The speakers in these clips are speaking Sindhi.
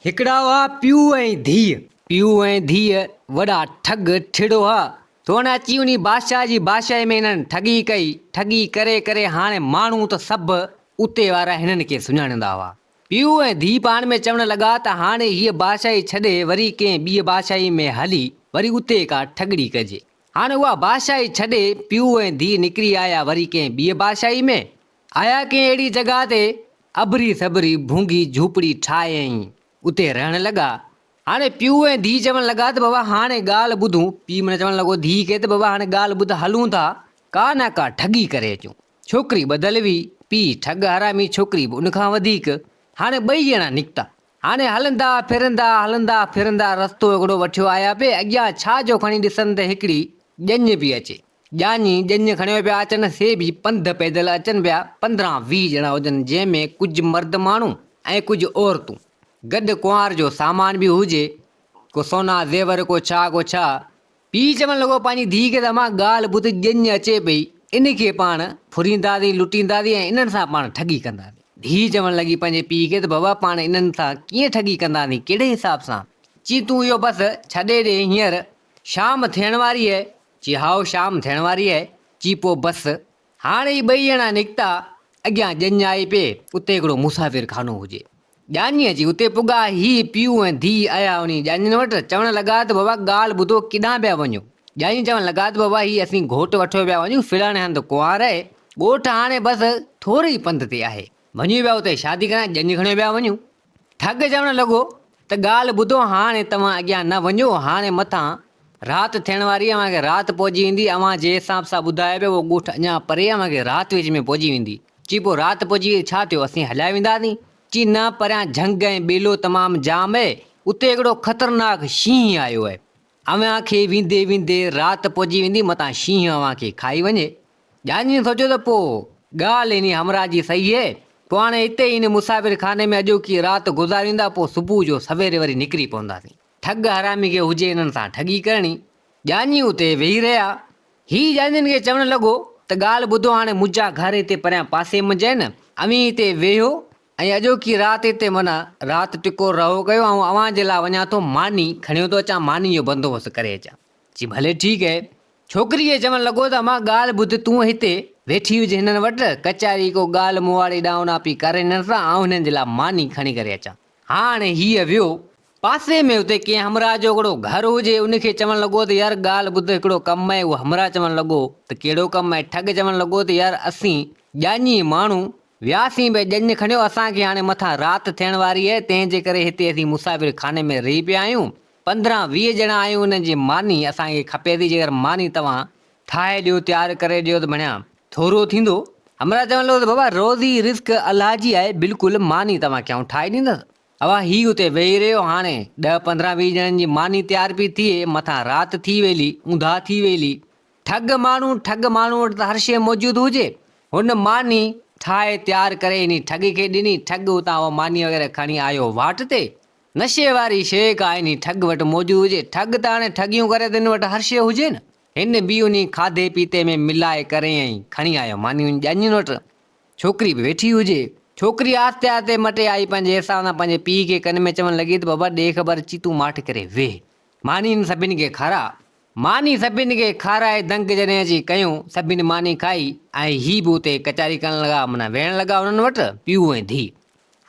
هڪڙا هئا پيو ۽ ڌيء. پيو ۽ ڌيء وڏا ٺڳ ٺڙو هئا. سون اچي انهي بادشاهه جي بادشاهي ۾ هنن ٺڳي ڪئي. ٺڳي ڪري ڪري هاڻي ماڻهو ته سڀ اتي وارا هنن کي سڃاڻيندا هئا. پيو ۽ ڌيء پاڻ ۾ چوڻ لڳا ته هاڻي هيء بادشاهي ڇڏي وري ڪنهن ٻيء بادشاهي ۾ هلي وري اتي ڪا ٺڳڙي ڪجي. هاڻي اها بادشاهي ڇڏي پيو ۽ ڌيء نڪري آيا وري ڪنهن ٻيء بادشاهي ۾. آيا ڪنهن اهڙي جڳهه تي، اڀري سڀري ڀونگي جهوپڙي ٺاهيائين، اتي رهڻ لڳا. هاڻي پيء ۽ ڌيء چوڻ لڳا ته بابا هاڻي ڳالهه ٻڌون. پيء من چوڻ لڳو ڌيء کي ته بابا هاڻي ڳالهه ٻڌ هلون ٿا ڪا نه ڪا ٺڳي ڪري اچون. ڇوڪري ٻڌل هئي، پيء ٺڳ حرامي ڇوڪري به ان کان وڌيڪ. هاڻي ٻئي ڄڻا نڪتا. هاڻي هلندا ڦرندا هلندا ڦرندا رستو هڪڙو وٺيو آيا پي اڳيان ڇا جو کڻي ڏسن ته هڪڙي ڄڃ پي اچي. ڄاڃي ڄڃ کڻي پيا اچن، سي به پنڌ پيدل اچن پيا، پندرهن ويهه ڄڻا هجن، جنهن ۾ ڪجهه مرد ماڻهو ۽ ڪجهه عورتون، گڏ ڪنوار جو سامان به هجي، ڪو سونا زيور، ڪو ڇا ڪو ڇا. پيء چوڻ لڳو، پنهنجي ڌيء کي ته امان ڳالهه ٻڌ، ڄڃ اچي پئي، ان کي پاڻ ڦرينداسين، لٽينداسين ۽ انهن سان پاڻ ٺڳي ڪنداسين. ڌيء چوڻ لڳي پنهنجي پيء کي ته بابا پاڻ انهن سان ڪيئن ٺڳي ڪنداسين، ڪهڙي حساب سان؟ چي تون اهو بس ڇڏي ڏي هينئر، شام ٿيڻ واري اهي. چي هائو شام ٿيڻ واري اهي. چي پوء بس. هاڻ هي ٻئي ڄڻا نڪتا. اڳيان ڄڃ آئي پئي. اتي هڪڙو مسافر خانو هجي. ڄاڃي اچي اتي پڳا. هي پيء ۽ ڌيء آيا انهي ڄاڃين وٽ. چوڻ لڳا ته بابا ڳالهه ٻڌو ڪيڏانهن پيا وڃو. ڄاڃي چوڻ لڳا ته بابا هي اسين گهوٽ وٺيو پيا وڃون. فلاڻي هنڌ ڪنوار اهي. ڳوٺ هاڻي بس ٿوري ئي پنڌ تي آهي. وڃي پيا اتي شادي ڪرائڻ ڄڃ کڻي پيا وڃون. ٺڳ چوڻ لڳو ته ڳالهه ٻڌو هاڻي توهان اڳيان نه وڃو هاڻي مٿان رات ٿيڻ واري اوهان کي رات پئجي ويندي اوهان جي حساب سان ٻڌايو پيو اهو ڳوٺ اڃا پري اوهان کي رات وچ ۾ پئجي ويندي چي پوء رات پئجي وئي ڇا ٿيو اسين هليا وينداسين چي نه پريان جهنگ ۽ ٻيلو تمام جام اهي اتي هڪڙو خطرناڪ شينهن آيو اهي اوهان کي ويندي ويندي رات پئجي ويندي متان شينهن اوهان کي کائي وڃي جانجين سوچيو ته پوء ڳالهه انهي همراهه جي صحيح هي، پوء هاڻي هتي ئي انهي مسافر خاني ۾ اڄوڪي رات گذاريندا، پوء صبح جو سويري وري نڪري پونداسين. ٺڳ حرامي کي هجي انهن سان ٺڳي ڪرڻي. جانجين اتي ويهي رهيا. هي جانجين کي چوڻ لڳو ته ڳالهه ٻڌو هاڻي منهنجا گهر هتي پريان پاسي منجهه آهن، اوهين هتي ويهو ۽ اڄوڪي رات هتي معنيٰ رات ٽڪور رهو ڪيو، آئون اوهان جي لاء وڃان ٿو ماني کڻيو ٿو اچان، ماني جو بندوبست ڪري اچان. چي ڀلي ٺيڪ اهي. ڇوڪريء چوڻ لڳو ته امان ڳالهه ٻڌ تون هتي ويٺي هج هنن وٽ ڪچاري ڪو ڳالهه مون واري ڏانونا پي ڪر هنن سان آئون هنن جي لاء ماني کڻي ڪري اچان هاڻ هيء ويو پاسي ۾ اتي ڪنهن همراهه جو هڪڙو گهر هجي ان کي چوڻ لڳو ته يار ڳالهه ٻڌ هڪڙو ڪم اهي اهو همراهه چوڻ لڳو ته ڪهڙو ڪم اهي ٺڳ چوڻ لڳو ته يار اسين ڄاڃي ماڻهو وياسين به ڄڃ کڻيو اسان کي هاڻي مٿان رات ٿيڻ واري اهي تنهن جي ڪري هتي اسين مسافر خاني ۾ رهي پيا آهيون پندرهن ويهه ڄڻا آهيون انهن جي ماني اسان کي کپي ٿي جيڪر ماني توهان ٺاهي ڏيو تيار ڪري ڏيو ته بڻيا ٿورو ٿيندو همراهه چوڻ لڳو ته بابا روزي رزق الله جي آهي بلڪل ماني توهان کي آئون ٺاهي ڏيندس اها هي اتي ويهي رهيو هاڻي ڏهه پندرهن ويهه ڄڻن جي ماني تيار پي ٿئي مٿان رات ٿي ويلي اونداهه ٿي ويلي ٺڳ ماڻهو ٺڳ ماڻهو وٽ ته هر شيء موجود هجي هن ماني ٺاهي تيار ڪري انهي ٺڳ کي ڏني ٺڳ اتان اها ماني وغيره کڻي آيو واٽ تي نشي واري شيء ڪا انهي ٺڳ وٽ موجود هجي، ٺڳ ته هاڻي ٺڳيون ڪري ته هن وٽ هر شيء هجي نه. هن به انهي کاڌي پيتي ۾ ملائي ڪري ۽ کڻي آيو ماني انهن ڄاڃين وٽ ڇوڪري به ويٺي هجي. ڇوڪري آهستي آهستي مٽي آئي پنهنجي احساس سان پنهنجي پيء کي ڪن ۾ چوڻ لڳي ته بابا ڏي خبر اچي تون ماٺ ڪري ويهه ماني هن سڀني کي کاراء. ماني سڀني کي کارائي دنگ جڏهن اچي ڪيو، سڀني ماني کائي ۽ هي به اتي ڪچاري ڪرڻ لڳا معنيٰ ويهڻ لڳا انهن وٽ پيء ۽ ڌيء.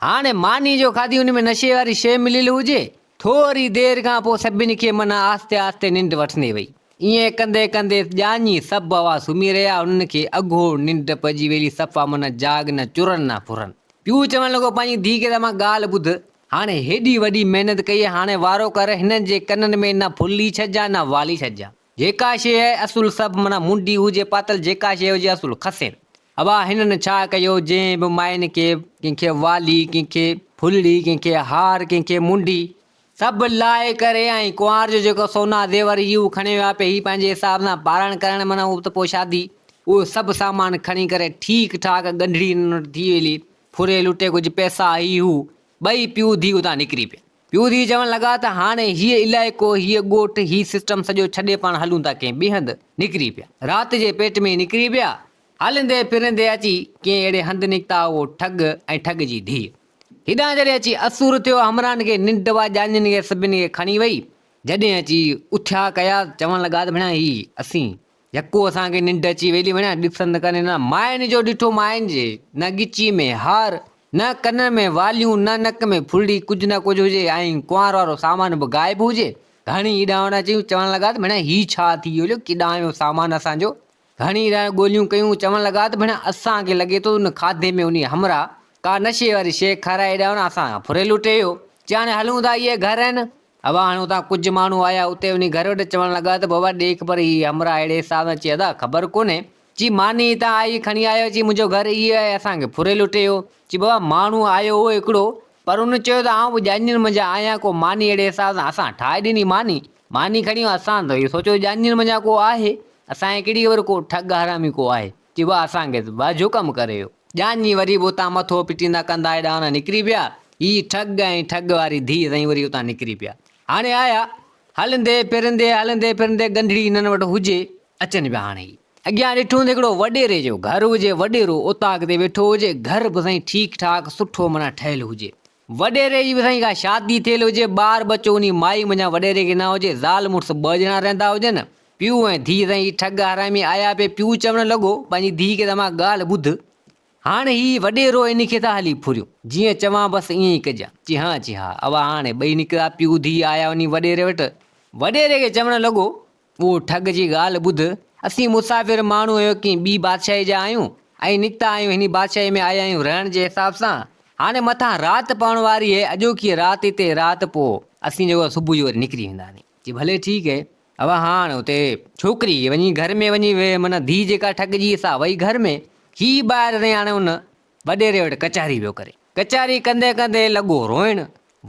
هاڻي ماني جو کاڌي ان ۾ نشي واري شيء مليل هجي. ٿوري دير کان پوء سڀني کي من آهستي آهستي ننڊ وٺندي وئي. ائين ڪندي ڪندي ڄاڃي سڀ اوهان سمهي رهيا انهن کي اگهور ننڊ پئجي ويلي صفا من جاڳ نه چرن نه ڦرن. پيو چوڻ لڳو پنهنجي ڌيء کي ته امان ڳالهه ٻڌ. هاڻي هيڏي وڏي محنت ڪئي هاڻي وارو ڪر هنن جي ڪنن ۾ نه ڦلي ڇڏجان نه والي ڇڏجان. جيڪا شيء اصل سڀ معنيٰ منڊي هجي پاتل جيڪا شيء هجي اصل کسي اڀا هنن ڇا ڪيو جنهن به مائين کي ڪنهن کي والي ڪنهن کي ڦلڙي ڪنهن کي هار ڪنهن کي منڊي سڀ لاهي ڪري ۽ ڪنوار جو جيڪو سونا زيور هي اهو کڻي ويا پي هي پنهنجي حساب سان پارڻ ڪرڻ معنيٰ اهو ته پوء شادي اهو سڀ سامان کڻي ڪري ٺيڪ ٺاڪ ڳنڍڙي هنن وٽ ٿي ويلي ڦري لٽي ڪجهه پئسا هي هو ٻئي پيو ڌي اتان نڪري پيا. پيوڌي چوڻ لڳا ته هاڻي هيء علائقو، هيء ڳوٺ، هي سسٽم سڄو ڇڏي پاڻ هلون ٿا ڪنهن ٻئي هنڌ. نڪري پيا. رات جي پيٽ ۾ نڪري پيا. هلندي ڦرندي اچي ڪنهن اهڙي هنڌ نڪتا اهو ٺڳ ۽ ٺڳ جي ڌيء. هيڏانهن جڏهن اچي اسور ٿيو همراهن کي ننڊ اها ڄاڃين کي سڀني کي کڻي وئي. جڏهن اچي اٿيا ڪيا چوڻ لڳا ته ڀيڻا هي اسين يڪو اسان کي ننڊ اچي ويلي وڻيا ڏسن ته ڪنين نه مائن جو ڏٺو مائن جي نه ڳچي ۾ هار نه ڪنن ۾ واليون نه نڪ ۾ ڦرڙي ڪجهه نه ڪجهه هجي ۽ ڪنوار وارو سامان به غائب هجي گهڻي اڏاوڻ اچيون چوڻ لڳا ته ڀيڻا هي ڇا ٿي ويو جو ڪيڏانهن ويو سامان اسان جو گهڻي اڏاوڻ ڳوليون ڪيون چوڻ لڳا ته ڀيڻا اسان کي لڳي ٿو ان کاڌي ۾ انهي همراهه ڪا نشي واري شيء کارائي اڏاوڻ اسان کان ڦري لٽي ويو چي هاڻي هلون ٿا اهي گهر آهن هوا هڻيو ٿا. ڪجهه ماڻهو آيا اتي وڃي گهر وٽ چوڻ لڳا ته بابا ڏيک پر هي همراهه اهڙي حساب سان چي ادا خبر ڪونهي چي ماني هتان آئي کڻي آيو چي منهنجو گهر هي آهي اسان کي ڦري لٽي ويو چي بابا ماڻهو آيو هو هڪڙو پر ان چيو ته آئون به ڄاڃين منجهان آهيان ڪو ماني اهڙي حساب سان اسان ٺاهي ڏني ماني ماني کڻي ويو اسان ته اهو سوچيو ڄاڃين منجهان ڪو آهي اسان کي ڪهڙي خبر ڪو ٺڳ حرامي ڪو آهي. چي واهه سانگيس، واهه جو ڪم ڪري اهو. ڄاڃي وري به اتان مٿو پٽيندا ڪندا هيڏانهن هوڏانهن نڪري پيا. هي ٺڳ ۽ ٺڳ واري ڌيء سائين وري اتان نڪري پيا. هاڻي آيا. هلندي ڦرندي هلندي ڦرندي ڳنڍڙي هنن وٽ هجي. اچن پيا هاڻي هي. اڳيان ڏٺو ته هڪڙو وڏيري جو گهر هجي، وڏيرو اوطاق تي ويٺو هجي، گهر به سائين ٺيڪ ٺاڪ سٺو معنيٰ ٺهيل هجي. وڏيري جي به سائين ڪا شادي ٿيل هجي، ٻار ٻچو انهي مائي منجهان وڏيري کي نه هجي، زال مڙس ٻه ڄڻا رهندا هجن، پيو ۽ ڌيء سائين هي ٺڳ حرامي آيا پئي پيو چوڻ لڳو پنهنجي ڌيء کي ته امان ڳالهه ٻڌ هاڻ هي وڏيرو انهي کي ٿا هلي ڦريون جيئن چوان بس ائين ئي ڪجان چي ها چي ها اوا هاڻي ٻئي نڪتا پيو ڌيء آيا انهي وڏيري وٽ، وڏيري کي چوڻ لڳو او ٺڳ جي ڳالهه ٻڌ، اسين مسافر ماڻهو اهوڪين ٻي بادشاهيء جا آهيون، ۽ نڪتا آهيون هني بادشاهيء ۾ آيا آهيون رهڻ جي حساب سان، هاڻي مٿان رات پوڻ واري اهي، اڄوڪي رات هتي رات پوء اسين جيڪو آهي صبح جو وري نڪري وينداسين. چي ڀلي ٺيڪ اهي. اوهان هاڻ اتي ڇوڪري کي وڃي گهر ۾ وڃي ويهه، معنيٰ ڌيء جيڪا ٺڳ جي سا وئي گهر ۾، هي ٻاهر رهي هاڻي ان. وڏيري وٽ ڪچهري پيو ڪري. ڪچهري ڪندي ڪندي لڳو روئڻ.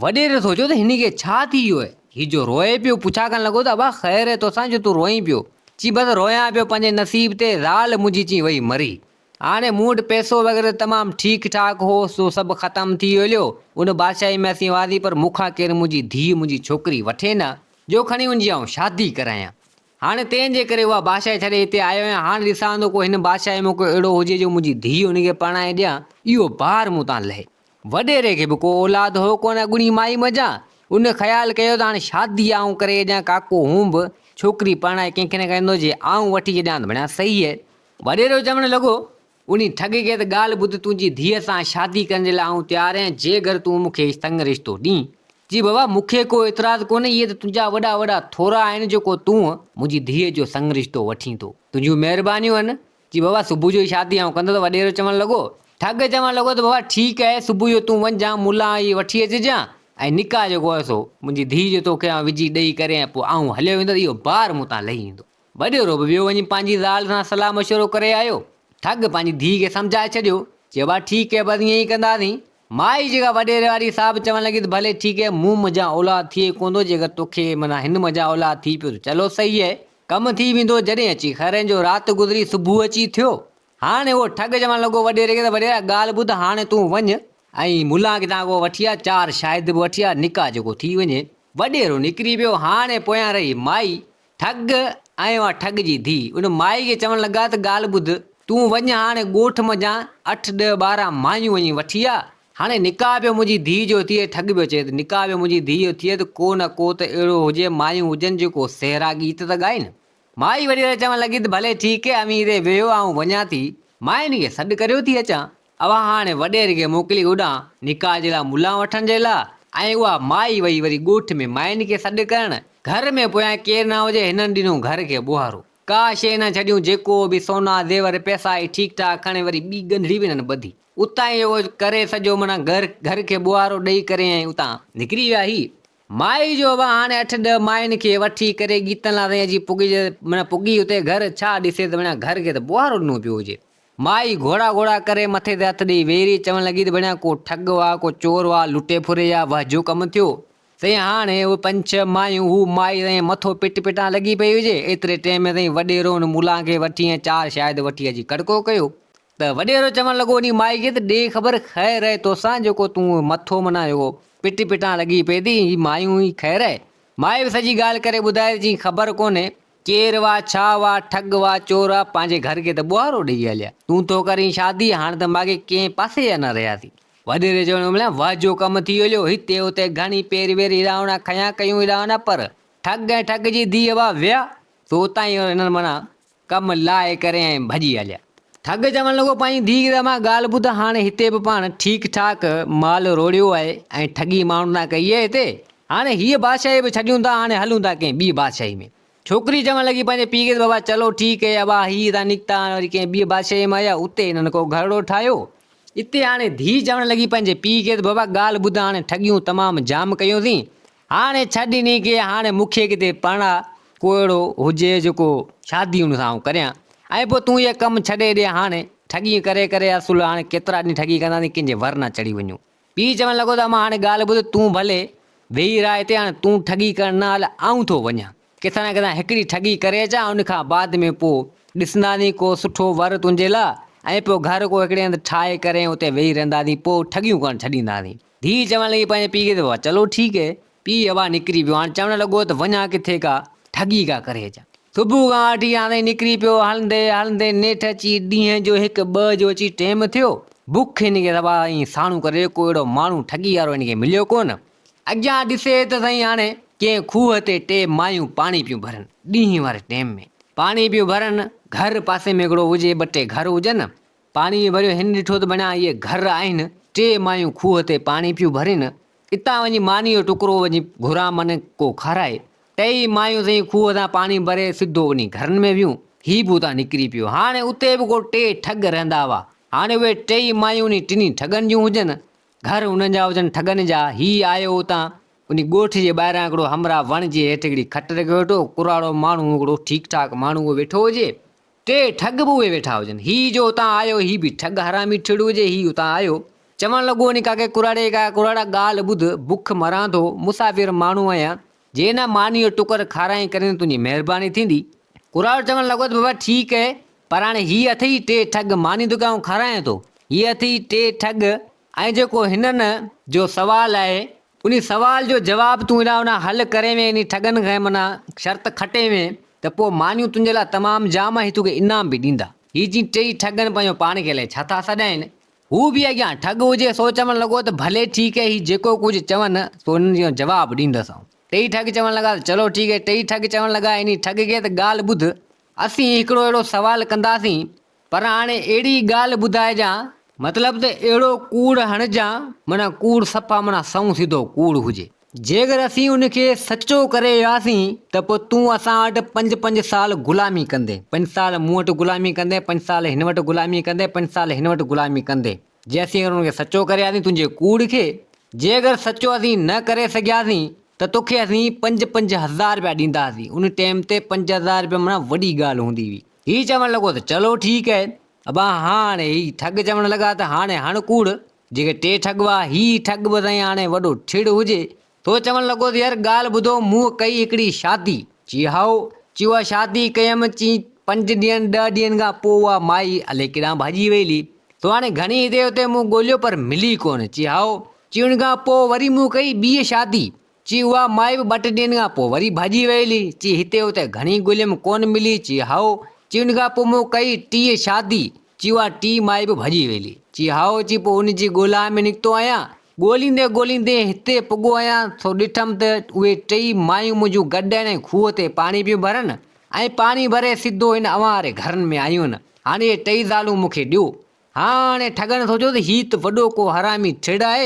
وڏيري سوچيو ته هن کي ڇا ٿي ويو آهي؟ هي جو روئي پيو، پڇا ڪرڻ لڳو ته ابا خير آهي توسان جو تون روئين پيو؟ چي بس رويان پيو پنهنجي نصيب تي، زال منهنجي چي وئي مري. هاڻي مون وٽ پئسو وغيره تمام ٺيڪ ٺاڪ هو، سو سڀ ختم ٿي هليو. ان بادشاهي ۾ اسين هئاسين پر مون کان ڪير منهنجي ڌيء، منهنجي ڇوڪري، وٺي نه، جو کڻي ان جي آئون شادي ڪرايان. هاڻي تنهن جي ڪري اها بادشاهي ڇڏي هتي آيو آهيان. هاڻ ڏسان ٿو ڪو هن بادشاهيء ۾ ڪو اهڙو هجي جو منهنجي ڌيء ان کي پرڻائي ڏيان. اهو بار مون تان لهي. وڏيري کي به ڪو اولاد هو ڪونه اڳوڻي مائي منجهان. ان خيال ڪيو ته هاڻي شادي آئون ڪري ڇڏيان ڪاڪو هون به ڇوڪري پرڻائي ڪنهن کي نه ڪريندو جي آئون وٺي ڇڏيان ته ڀڻيا صحيح. وڏيرو چوڻ لڳو. انهي ٺڳ کي ته ڳالهه ٻڌ تنهنجي ڌيء سان شادي ڪرڻ جي لاء آئون تيار آهيان جي گر تون مون کي هي سڱ رشتو ڏين. جي بابا مون کي ڪو اعتراض ڪونهي اهي ته تنهنجا وڏا وڏا ٿورا آهن جو ڪو تون منهنجي ڌيء جو سڱ رشتو وٺين ٿو تنهنجون مهربانيون آهن. جي بابا صبح جو ئي شادي آئون ڪندس وڏيرو چوڻ لڳو. ٺڳ چوڻ لڳو ته بابا ٺيڪ آهي صبح جو تون وڃ جان ملان هي وٺي اچجان ۽ نڪاح جيڪو آهي سو منهنجي ڌيء جو توکي آئون وجهي ڏئي ڪري ۽ پوء آئون هليو ويندس اهو بار مون تان لهي ويندو. وڏيرو به ويو وڃي پنهنجي زال سان صلاح مشورو ڪري آيو. ٺڳ پنهنجي ڌيء کي سمجهائي ڇڏيو. چيو ڀا ٺيڪ هي بس ائين ئي ڪنداسين. مائي جيڪا وڏيري واري صاحب چوڻ لڳي ته ڀلي ٺيڪ هي مون منجهان اولاد ٿئي ئي ڪوندو جيڪر توکي معنيٰ هن منجهان اولاد ٿي پيو ته چلو صحيح هي ڪم ٿي ويندو جڏهن اچي خيرين جو رات گذري صبح اچي ٿيو. هاڻي اهو ٺڳ چوڻ لڳو وڏيري کي ته وڏيرا ڳالهه ٻڌ هاڻي تون وڃ ۽ ملان کي تان کان وٺي آ چار شاهد به وٺي آ نڪاح جيڪو ٿي وڃي. وڏيرو نڪري ويو هاڻي پويان رهي مائي. ٺڳ، آئين آ ٺڳ جي ڌيء. ان مائي کي چوڻ لڳا ته ڳالهه ٻڌ، تون وڃ هاڻي ڳوٺ منجهان اٺ ڏهه ٻارهن مايون وڃي وٺي آ. هاڻي نڪاح پيو منهنجي ڌيء جو ٿئي. ٺڳ پيو چئي ته نڪاح پيو منهنجي ڌيء جو ٿئي ته ڪو نه ڪو ته اهڙو هجي، مايون هجن جيڪو سهرا گيت ته ڳائين. مائي وڏيري چوڻ لڳي ته ڀلي ٺيڪ اي اميري ويهه آئون وڃان ٿي ماين کي سڏ ڪريو ٿي اچان. اوهان هاڻي وڏيري کي موڪلي هوڏانهن نڪاح جي لاء ملان وٺڻ جي لاء ۽ اها مائي وئي وري ڳوٺ ۾ مائين کي سڏ ڪرڻ. گهر ۾ پويان ڪير نه هجي، هنن ڏنو گهر کي ٻوهارو. ڪا شيء نه ڇڏيون، جيڪو به سونا زيور پئسا هئي ٺيڪ ٺاڪ کڻي وري ٻي ڳنڍڙي به هنن ٻڌي. اتان ئي اهو ڪري سڄو منا گهر کي ٻوهارو ڏئي ڪري ۽ اتان نڪري ويا. هي مائي جو اوهان هاڻي اٺ ڏهه مائين کي وٺي ڪري ڳيتن لاء تائين اچي پڳي منا پڳي اتي گهر ڇا ڏسي ته منا گهر کي ته ٻوهارو ڏنو پيو هجي. مائي گهوڙا گهوڙا ڪري مٿي تي هٿ ڏيئي ويري چوڻ لڳي ته ڀيڻيا ڪو ٺڳ هئا، ڪو چور هئا، لٽي ڦري يا وهه جو ڪم ٿيو. سائين هاڻ هي اهي پنج ڇهه مايون هو مائي سائين مٿو پٽ پٽان لڳي پئي هجي. ايتري ٽئين ۾ سائين وڏيرو ان ملان کي وٺي ۽ چار شاهد وٺي اچي کڙڪو ڪيو ته وڏيرو چوڻ لڳو انهي مائي کي ته ڏي خبر خير رهي توسان جيڪو تون اهي مٿو منا جيڪو پٽ پٽان لڳي پئي ٿي هي مايون ئي خير رهي. مائي به سڄي ڳالهه ڪري ٻڌائي ته چيائين خبر ڪونهي ڪير وا ڇا وا ٺڳ وا چور آ پنهنجي گهر کي ته ٻوهارو ڏيئي هليا تون ٿو ڪرين شادي هاڻ ته ماڳهين ڪنهن پاسي جا نه رهياسين وڏيري چوڻ امليان وه جو ڪم ٿي هليو هتي اتي گهڻي پير وير هيرائونا کنيا ڪيون هيرائونا پر ٺڳ ۽ ٺڳ جي ڌيء وا ويا سو اتان ئي هنن معنيٰ ڪم لاهي ڪري ۽ ڀڄي هليا. ٺڳ چوڻ لڳو پنهنجي ڌيء کي ته امان ڳالهه ٻڌ هاڻ هتي به پاڻ ٺيڪ ٺاڪ مال روڙيو آهي ۽ ٺڳي ماڻهن تان ڪئي آهي هتي هاڻي هيء بادشاهي به ڇڏيون ٿا، هاڻي هلون ٿا ڪنهن ٻيء بادشاهيء ۾. ڇوڪري چوڻ لڳي پنهنجي پيء کي ته بابا چلو ٺيڪ هي، ابا هي هتان نڪتا هاڻي وري ڪنهن ٻيء بادشاهيء ۾ آيا، اتي هنن ڪو گهرڙو ٺاهيو. اتي هاڻي ڌيء چوڻ لڳي پنهنجي پيء کي ته بابا ڳالهه ٻڌ هاڻي ٺڳيون تمام جام ڪيوسين، هاڻي ڇڏ انهي کي، هاڻي مون کي ڪٿي پرڻاء، ڪو اهڙو هجي جو ڪو شادي ان سان آئون ڪريان، ۽ پوء تون هيء ڪم ڇڏي ڏي هاڻي، ٺڳي ڪري ڪري اصل هاڻي ڪيترا ڏينهن ٺڳي ڪنداسين، ڪنهن جي ور نه چڙهي وڃون. پيء چوڻ لڳو ته امان هاڻي ڳالهه ٻڌ، تون ڀلي ويهي رهه هتي هاڻي تون ٺڳي ڪرڻ نه هل آئون ٿو وڃان. ڪٿان نه ڪٿان هڪڙي ٺڳي ڪري اچان ان کان بعد ۾ پوء ڏسنداسين ڪو سٺو ور تنهنجي لاء ۽ پوء گهر ڪو هڪڙي هنڌ ٺاهي ڪرين اتي ويهي رهنداسين پوء ٺڳيون ڪرڻ ڇڏينداسين. ڌيء چوڻ لڳي پنهنجي پيء کي ته واهه چلو ٺيڪ هي. پيء اڀا نڪري پيو. هاڻ چوڻ لڳو ته وڃان ڪٿي ڪا ٺڳي ڪا ڪري اچان. صبح کان وٺي هاڻ تائين نڪري پيو. هلندي هلندي نيٺ اچي ڏينهن جو هڪ ٻه جو اچي ٽيم ٿيو. بک هن کي سوا ائين ساڻو ڪري ڪو اهڙو ماڻهو ٺڳي وارو هن کي مليو ڪونه. اڳيان ڏسي ته سائين هاڻي ڪنهن کوهه تي ٽي مايون پاڻي پيون ڀرن. ڏينهن واري ٽيم ۾ پاڻي پيون ڀرن. گهر پاسي ۾ هڪڙو هجي ٻه ٽي گهر هجن. پاڻيء ڀريو هن ڏٺو ته بنان اهي گهر آهن، ٽي مايون کوهه تي پاڻي پيون ڀرين، اتان وڃي مانيء جو ٽڪرو وڃي گهران منهن ڪو کارائي، ٽيئي مايون سائين کوهه تان پاڻي ڀري سڌو وڃي گهرن ۾ ويون، هي به اتان نڪري پيو، هاڻي اتي به ڪو ٽي ٺڳ رهندا هئا، هاڻي اهي ٽيئي مايون انهي ٽنهي ٺڳن جون هجن، گهر انهن جا هجن ٺڳن جا، هي آيو اتان انهي ڳوٺ جي ٻاهران هڪڙو همراهه وڻ جي هيٺ هڪڙي کٽ رکي ويٺو، ڪراڙو ماڻهو هڪڙو ٺيڪ ٺاڪ ماڻهو اهو ويٺو هجي، ٽي ٺڳ به اهي ويٺا هجن. هي جو اتان آيو هي به ٺڳ حرامي ٺڙو هجي هي اتان آيو. چوڻ لڳو ني ڪاڪي ڪراڙي ڪا ڪراڙا ڳالهه ٻڌ بک مران ٿو مسافر ماڻهو آهيان جي نه ماني جو ٽڪر کارائين ڪرين تنهنجي مهرباني ٿيندي. ڪراڙو چوڻ لڳو ته بابا ٺيڪ اهي پر هاڻي هي اٿئي ٽي ٺڳ ماني ته ڪي آئون کارائين ٿو هي اٿئي ٽي ٺڳ ۽ جيڪو هنن جو سوال آهي انھي سوال جو جواب تون ادا انا حل ڪرين وين انھي ٺڳن کان منا شرط کٽين وين ته پوء مانيون تنھنجي لاء تمام جام ۽ توکي انعام به ڏيندا ھي جي ٽئي ٺڳن پنھنجو پاڻ کي الائي ڇا ٿا سڏائين ھو به اڳيان ٺڳ ھجي سو چوڻ لڳو ته ڀلي ٺيڪ ھي ھي جيڪو ڪجھ چون سو انھن جو جواب ڏيندس آئون ٽئي ٺڳ چوڻ لڳا ته چلو ٺيڪ ھي ٽئي ٺڳ چوڻ لڳا انھي ٺڳ کي ته ڳالھ ٻڌ اسين ھڪڙو اھڙو سوال ڪنداسين پر هاڻي اهڙي ڳالهه ٻڌائجان، مطلب ته اهڙو ڪوڙ هڻجان، معنيٰ ڪوڙ صفا معنيٰ سنئون سڌو ڪوڙ هجي. جيڪر اسين ان کي سچو ڪري وياسين ته پوء تون اسان وٽ پنج پنج سال غلامي ڪندين، پنج سال مون وٽ غلامي ڪندين، پنج سال هن وٽ غلامي ڪندين، پنج سال هن وٽ غلامي ڪندين، جي اسين اگر ان کي سچو ڪري وياسين تنهنجي ڪوڙ کي، جي اگر سچو اسين نه ڪري سگهياسين ته توکي اسين پنج پنج هزار رپيا ڏيندا هئاسين، ان ٽيم تي پنج هزار رپيا معنيٰ وڏي ڳالهه هوندي هئي. هي چوڻ لڳو ته چلو ٺيڪ اهي ابا هاڻي هي ٺڳ چوڻ لڳا ته هاڻي هڻ ڪوڙ جيڪي ٽي ٺڳ هئا هي ٺڳ به سائين هاڻي وڏو ٺڙ هجي ٿو چوڻ لڳو ته يار ڳالهه ٻڌو مون ڪئي هڪڙي شادي چي هائو چي اها شادي ڪيم چي پنج ڏينهن ڏهه ڏينهن کان پوء اها مائي الئي ڪيڏانهن ڀڄي وئي لي ٿو هاڻي گهڻي هتي هتي مون ڳوليو پر ملي ڪونه چي هائو چي ان کان پوء وري مون ڪئي ٻي شادي چي اها مائي به ٻه ٽي ڏينهن کان پوء وري ڀڄي ويل هئي. چي هتي هتي گهڻي ڳوليم ڪونه ملي. چي هائو. چي ان کان پوء مون ڪئي ٽيئين شادي. چي اها ٽين مائي به ڀڄي ويل هئي. چي هائو. چي پوء ان جي ڳولا ۾ نڪتو آهيان. ڳوليندي ڳوليندي هتي پڳو آهيان سو ڏٺم ته اهي ٽيئي مايون منهنجون گڏ آهن ۽ کوهه تي پاڻي پيون ڀرن ۽ پاڻي ڀري سڌو هن اوهان واري گهرن ۾ آيون. هاڻي اهي ٽيئي زالون مون کي ڏيو. هاڻي ٺڳڻ سوچيو ته هي ته وڏو ڪو حرامي ٺڙ آهي،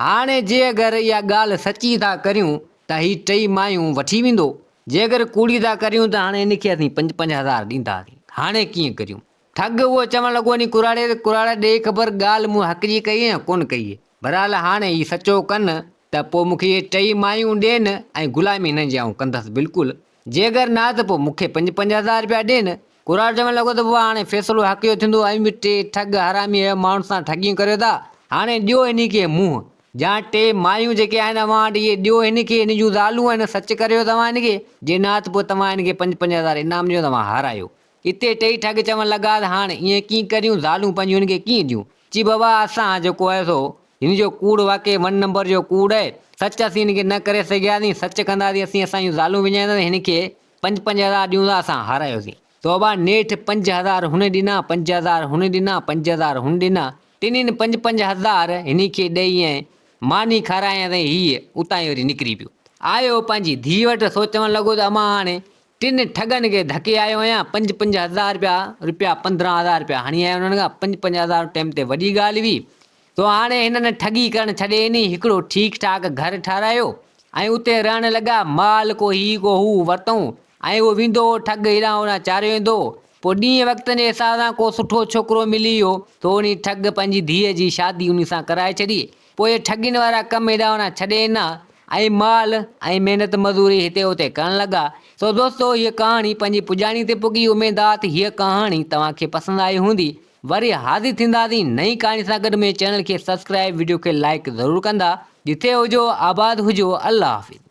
هاڻي جي اگر اها ڳالهه سچي ٿا ڪريون ته هي ٽئي مايون وٺي ويندو، جي اگر ڪوڙي ٿا ڪريون ته هاڻي هن کي اسين پنج پنج هزار ڏينداسين، هاڻي ڪيئن ڪريون؟ ٺڳ اهو چوڻ لڳو انهي ڪراڙي تي ڪراڙا ڏيئي خبر ڳالهه مون حق جي ڪئي يا ڪونه ڪئي، بهرحال هاڻي هي سچو ڪن ته پوء مون کي اهي ٽئي مايون ڏين ۽ غلامي هنن جي آئون ڪندس بلڪل، جي اگر نه ته پوء مون کي پنج پنج هزار رپيا ڏي نه. ڪراڙ چوڻ لڳو ته بابا هاڻي فيصلو حق جو ٿيندو اوهين به ٽي ٺڳ حرامي اهي ماڻهن سان ٺڳيون ڪريو ٿا هاڻي ڏيو هني کي منهن جان ٽي مايون جيڪي آهن اوهان وٽ اهي ڏيو هن کي هن جون زالون آهن سچ ڪريو توهان هن کي جي نه ته پوء توهان هن کي پنج پنج هزار انعام ڏيو ته اوهان هارايو اتي ٽيئي ٺڳ چوڻ لڳا ته هاڻ ائين ڪيئن ڪريون، زالون پنهنجون هن کي ڪيئن ڏيون؟ چي بابا اسان جيڪو آهي سو هن جو ڪوڙ واقعي ون نمبر جو ڪوڙ آهي، سچ اسين هن کي نه ڪري سگهياسين، سچ ڪنداسين اسين اسان جون زالون وڃائينداسين ۽ هن کي پنج پنج هزار ڏيون ٿا اسان هارايوسين. سو بابا نيٺ پنج هزار هن ڏنا، پنج هزار هن ڏنا، پنج هزار هن ڏنا، ٽنهين پنج پنج هزار هن کي ڏئي ۽ ماني کارايائينس ۽ هيء اتان ئي وري نڪري پيو. آيو پنهنجي ڌيء وٽ، سو چوڻ لڳو ته امان هاڻي ٽن ٺڳن کي ڌڪي آيو آهيان، پنج پنج هزار رپيا رپيا پندرهن هزار رپيا هڻي آيو انهن کان، پنج پنج هزار ٽيم تي وڏي ڳالهه هئي، سو هاڻي هنن ٺڳي ڪرڻ ڇڏي ڏني، هڪڙو ٺيڪ ٺاڪ گهر ٺاهرايو ۽ اتي رهڻ لڳا، مال ڪو هي ڪو هو ورتئون ۽ اهو ويندو هو ٺڳ هيڏانهن هوڏانهن چاريو ويندو هو، پوء ڏينهن وقت جي حساب سان ڪو سٺو ڇوڪرو ملي ويو، سو انهي ٺڳ پنهنجي ڌيء جي شادي انهي سان ڪرائي ڇڏي، پوء ٺڳين وارا ڪم هيڏانهوڏانهن ڇڏي ڏنا ۽ مال ۽ محنت مزوري هتي هتي ڪرڻ لڳا. سو دوستو هيء ڪهاڻي پنهنجي پڄاڻي تي پڳي. اميد آ ته هيء ڪهاڻي توهان کي پسند آئي هوندي. وري حاضر ٿينداسين نئين ڪهاڻي سان گڏ منهنجي چينل کي سبسڪرائيب وڊيو کي لائيڪ ضرور ڪندا. جتي هجو آباد هجو الله حافظ.